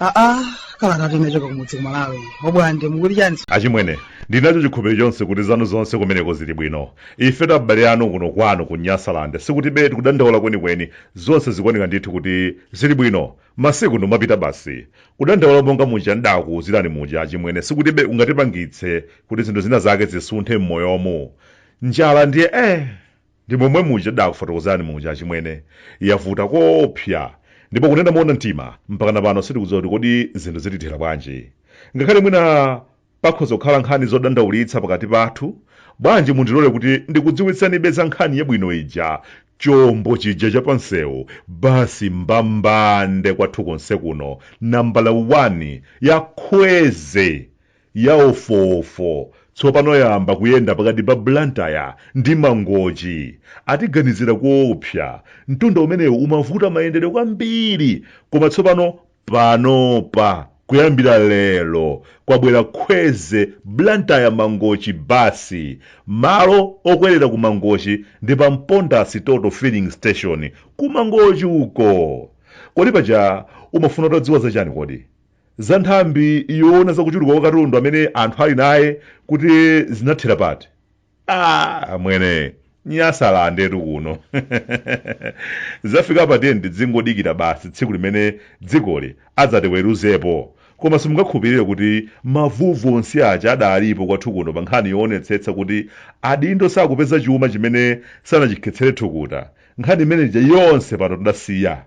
aa kalata yochoka kumudzi kumalawi Obwande mukuti chani achimwene ndinacho chikhulupiriro chonse kuti zanu zonse kumeneko zili bwino ifetu abale anu kuno kwanu ku nyasalande sikuti be tikudandaula kwenikweni zonse zikuoneka ndithu kuti zili bwino Masiku ndi omapita basi. Kudandaula monga muja n'daakuuzirani muja achimwene sikuti be kungatipangitse kuti zinthu zina zake zisunthe m'moyomu. Njala ndiye eh! Ndi momwe muja ndaakufotokozerani muja achimwene. Yavuta koopsa. Ndipo kunena moona mtima, mpakana pano sitikudziwa kuti kodi zinthu zitithera bwanji. Ngakhale mwina Pakhoza kukhala nkhani zodandaulitsa pakati pathu, bwanji mundilole kuti ndikudziwitseni be za nkhani yabwino ija, chombo chija cha pamsewu, basi mbambande kwathu konse kuno, nambala wani, ya khweze, ya ofo-ofo, tsopano yayamba kuyenda pakati pa Blantyre ndi Mangochi. Atiganizira koopsa. Mtunda umenewu umavuta mayendedwe kwambiri, koma tsopano panopa kuyambira lero kwabwera khweze blantyre mangochi basi malo okwerera ku mangochi ndi pa mponda Total filling station ku mangochi uko kodi paja umafuna utadziwa zachani kodi za nthambi yoona zakuchuluka kwa katundu amene anthu ali naye kuti zinathera pati ah mwene nyasalandetu kuno zafika pa tiyeni tizingodikira basi tsiku limene dzikoli adzatiweruzepo koma simungakhulupirire kuti mavuvu onse aja adalipo kwathu kuno pa nkhani yoonetsetsa kuti adindo sakupeza chuma chimene sanachikhetsere thukuta nkhani imene ija yonse pano tidasiya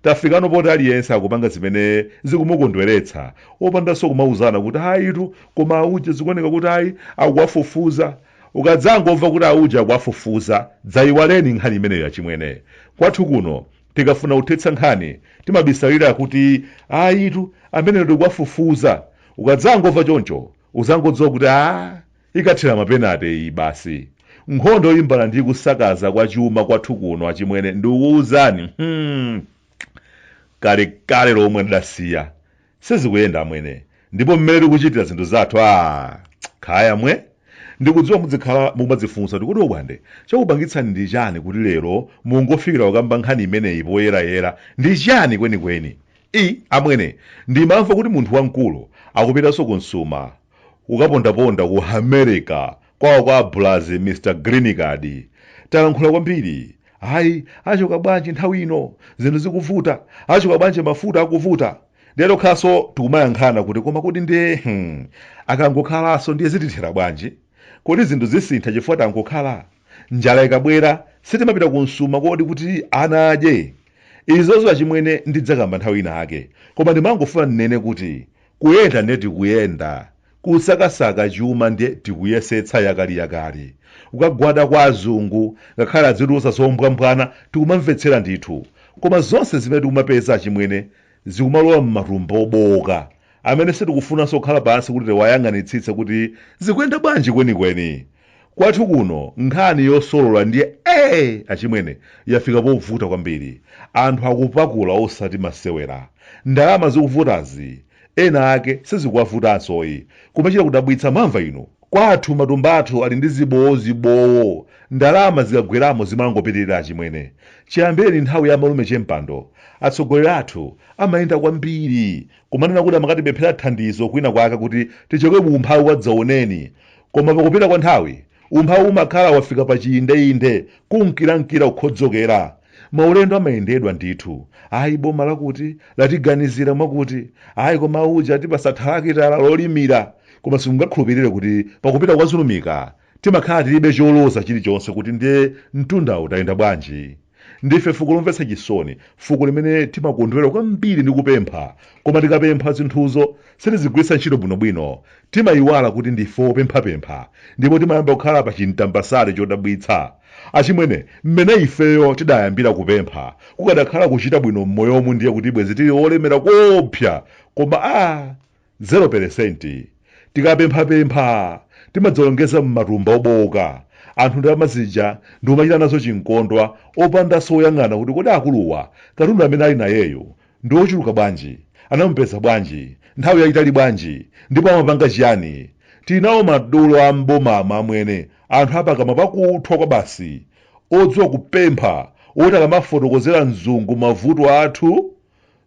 Tafikano poti aliyense akupanga zimene zikumukondweretsa opandanso kumauzana kuti ayitu koma auje zikuoneka kuti ayi akuwafufuza. Ukadzangomva kuti auje akuwafufuza, dzaiwaleni nkhani imeneyo achimwene. Kwathu kuno tikafuna kuthetsa nkhani timabisalira kuti ayitu ameneyo tikuwafufuza. Ukadzangomva choncho udzangodziwa kuti a ikathera m'mapenate iyi basi nkhondo yolimbana ndi kusakaza kwa chuma kwathu kuno achimwene ndikukuwuzani hmm. kalekale lomwe tidasiya sizikuyenda amwene ndipo mmene tikuchitira zinthu zathu a kaya amwene ndikudziwa mudzikhala mukumadzifunsa kuti kodi Obwande chakupangitsani ndi chani kuti lero mungofikira kukamba nkhani imeneyi poyerayera ndi chani kwenikweni I, Amwene, ndimamva kuti munthu wamkulu akupitanso kunsuma kukapondaponda ku America kwawo kwa abulazi Mr Green Card. Talankhula kwambiri. Ayi, achoka bwanji nthawi ino? Zinthu zikuvuta. Achoka bwanji mafuta akuvuta? Ndiye tokhaso tikumayankhana kuti koma kodi ndiye hmm, akangokhalaso ndiye zitithera bwanji? Kodi zinthu zisintha chifukwa tangokhala? Njala ikabwera sitimapita ku Nsuma kodi kuti ana adye? Izozo achimwene ndidzakamba nthawi ina ake koma ndimangofuna ndinene kuti kuyenda ndiye tikuyenda, kusakasaka chuma ndiye tikuyesetsa yakaliyakali kukagwada kwa azungu ngakhale azitiuza zombwambwana tikumamvetsera ndithu koma zonse zimene tikumapeza achimwene zikumalowa m'matumba obooka amene sitikufunanso kukhala pansi kuti tiwayang'anitsitse kuti zikuyenda bwanji kwenikweni. Kwathu kuno nkhani yosolola ndiye ee achimwene, yafika povuta kwambiri. Anthu akupakula osati masewera. Ndalama zikuvutazi ena ake sizikuwavutansoyi, kumachita kudabwitsa mwamva inu? Kwathu matumba athu ali ndi zibowo zibowo ndalama zikagweramo zimangopitilira achimwene chiyambireni nthawi ya amalume chempando atsogoleri athu amayenda kwambiri kumanena kuti amakatipemphera thandizo kwina kwake kuti tichoke mu umphawi wadzaoneni koma pakupita kwa nthawi umphawi umakhala wafika pa chiindeinde kunkira nkira kukhodzokera Maulendo amayendedwa ndithu. Ayi boma lakuti latiganizira mwakuti. Ayi koma uja atipasa thalakitala lolimira. Koma simungakhulupirire kuti pakupita kwa zulumika timakhala tilibe choloza chilichonse kuti ndiye mtundawu tayenda bwanji. Ndife fuko lomvetsa chisoni, fuko limene timakondwera kwambiri ndi kupempha koma tikapempha zinthuzo sitizigwiritsa ntchito bwinobwino. Timayiwala kuti ndife opemphapempha ndipo timayamba kukhala pa chintambasale chodabwitsa. Achimwene, mmene ifeyo tidayambira kupempha, kukadakhala kuchita bwino mmoyomu ndiye kuti bwezi tili olemera koopsa koma aah zero peresenti. Tikapemphapempha timadzalongeza mmatumba obooka, anthu ndalama zija ndikumachita nazo chinkondwa opandanso oyang'ana kuti kodi akuluwa katundu amene ali nayeyu Ndi ochuluka bwanji? Anamupeza bwanji? Nthawi yayitali bwanji? Ndipo amapanga chiyani? Tinawo madolo a m'bomama, amwene, anthu a pakamwa pakuthwa kwabasi, odziwa kupempha, woti akamafotokozera mzungu mavuto athu,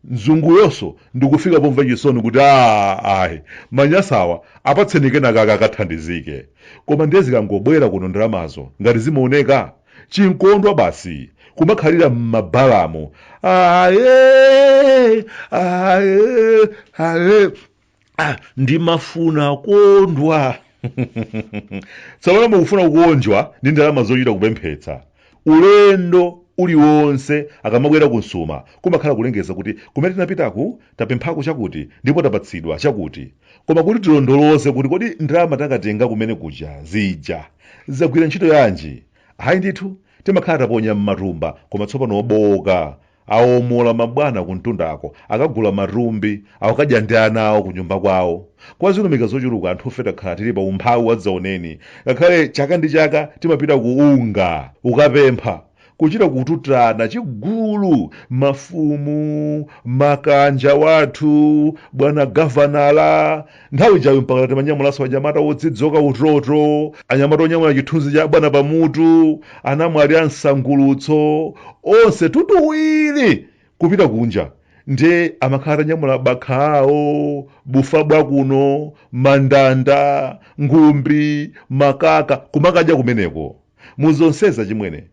mzunguyonso ndikufika pomva chisoni kuti, A, ayi, manyasawa, apatseni kenakake akathandizike. Koma ndiye zikangobwera kuno ndalamazo, ngati zimaoneka? n'chinkondwa basi kumakhalira m'mabalamu aye aye aye ah, ndimafuna kukondwa tsopano mukufuna kukondwa ndi ndalama zochita kupemphetsa ulendo uliwonse akamabwera kunsuma kumakhala kulengeza kuti kumene tinapitaku tapemphako chakuti ndipo tapatsidwa chakuti koma kuti tilondoloze kuti kodi ndalama tidakatenga kumene kuja zija zagwira ntchito yanji hayi ndithu timakhala taponya m'matumba koma tsopano obowoka awomola mabwana kumtundako akagula matumbi akukadya ndi ana awo kunyumba kwawo kwa zirimika zochuluka anthufe takhala tili pa umphawi wadzaoneni ngakhale chaka ndi chaka timapita ku UNGA kukapempha kuchita kututana chigulu mafumu makanja wathu bwana gavanala nthawi yayo mpaka timanyamulanso anyamata odzidzoka utoto anyamata onyamula chithunzi cha bwana pamutu anamwali a msangulutso onse tutuwiri kupita kunja ndiye amakhala atanyamula bakha awo bufa bwakuno mandanda ngumbi makaka kumakadya kumeneko Mu zonsezi achimwene,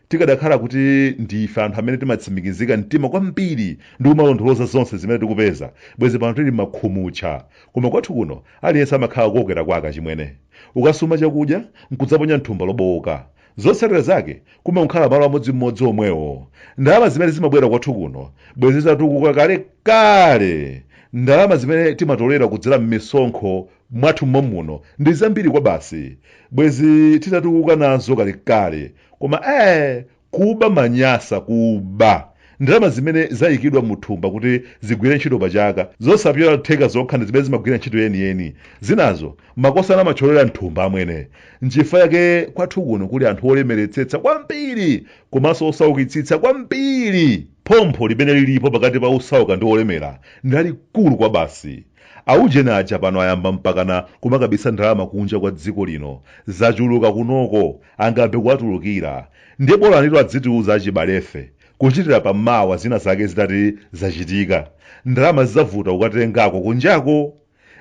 tikadakhala kuti ndi ife anthu amene timatsimikiza mtima kwambiri ndi kumalondoloza zonse zimene tikupeza, bwezi pano tili makhumutcha. Koma kwathu kuno aliyense amakhala kukokera kwake achimwene. Ukasuma chakudya nkudzaponya m'thumba lobowoka, zotsatira zake kumangokhala malo amodzimodzi omwewo. Ndalama zimene zimabwera kwathu kuno bwezi titatukuka kalekale. Ndalama zimene timatolera kudzera m'misonkho mwathu momuno ndi zambiri kwabasi bwezi titatukuka nazo kalekale koma ee kuba manyasa kuba ndalama zimene zayikidwa mu thumba kuti zigwire ntchito pachaka zosapyola theka zokha ndi zimene zimagwira ntchito yeniyeni zinazo makosana amatcholera mthumba amwene nchifukwa yake kwathu kuno kuli anthu olemeretsetsa kwambiri komanso osaukitsitsa kwambiri phompho limene lilipo pakati pa osauka ndi olemera ndi lalikulu kwabasi Aujeni aja pano ayamba mpakana kumakabisa ndalama kunja kwa dziko lino. Zachuluka kunoko, angayambe kuwatulukira. Ndiye bola anitu azitiuza achibalefe, kuchitira pa mawa zina zake zitati zachitika. Ndalama zidzavuta kukatengako kunjako!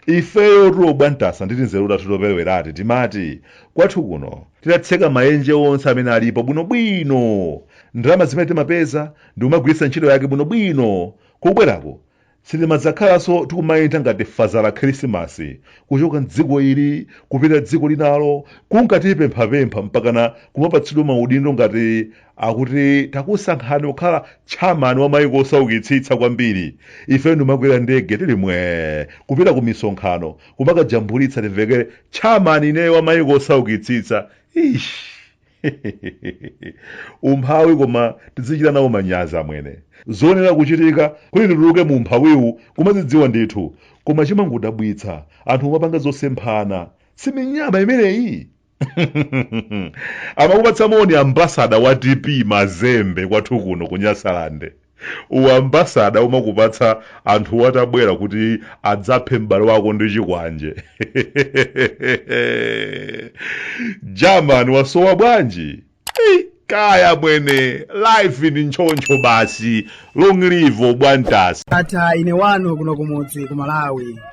Ifeyotu obwantasa ndi tinzeru tathu toperewerati timati, kwathu kuno, titatseka maenje onse amene alipo bwinobwino, ndalama zimene timapeza ndikumagwiritsa ntchito yake bwinobwino, kubwerako Sitimadzakhalanso tikumayenda ngati Fazala Khirisimasi kuchoka m'dziko ili kupita dziko linalo kunka tipemphapempha mpakana kumapatsidwa maudindo ngati akuti takusankhani kukhala tchamani wa maiko osaukitsitsa kwambiri, ife ndikumakwera ndege tili mwee kupita kumisonkhano kumakajambulitsa timvekere tchamani ineyo wa maiko osaukitsitsa. Eish! umphawi koma tidzichita nawo manyazi amwene zoyenera kuchitika kuti tituluke mu umphawiwu kumazidziwa ndithu koma chimangodabwitsa anthu omapanga zosemphana si minyama imeneyi amakupatsa moni ambasada wa tp mazembe kwathu kuno ku nyasalande uambasada umakupatsa anthu watabwera kuti adzaphe m'bale wako ndi chikwanje german wasowa bwanji Ei, kaya mwene life ili ntchoncho basi long live obwantasi ata ine wanu kuno kumudzi ku malawi